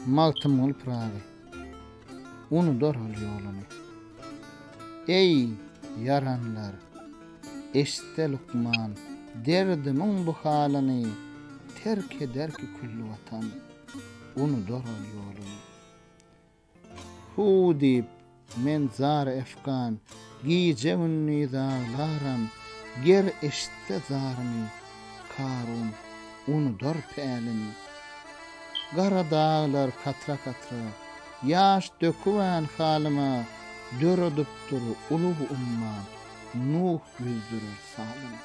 Magtymguly Pyragy Unudar ol ýoluny Eý, ýaranlar, eşitde lukman Derdimiň bu halyny Terk ederki külli watan Unudar ol ýoluny. Huu diýip, men zar efgan, Gije-gündiz aglaram, Ger eşitse zarymy, Karun unudar pälini. Gara daglar katra-katra, Ýaş dökübän halyma, Döredipdir ulug umman, Nuh ýüzdürer salymy.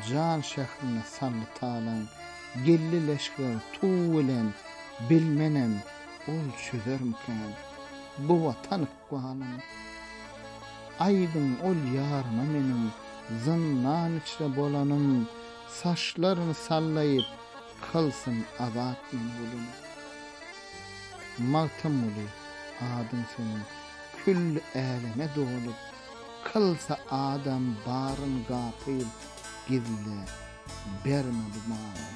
Jan şährine saldy talaň, Geldi leşger tuw bilen, Bilmenem, ol çözermikän bu Watan ykbalyn? Aýdyň ol ýaryma meniň zyndan içre bolanym, Saçlaryny sallaýyp, kylsyn azat meni gülüm. Magtymguly, adyň seniň külli äleme dolup, Kylsa adam baryn gapyl, gizle, berme bu malym.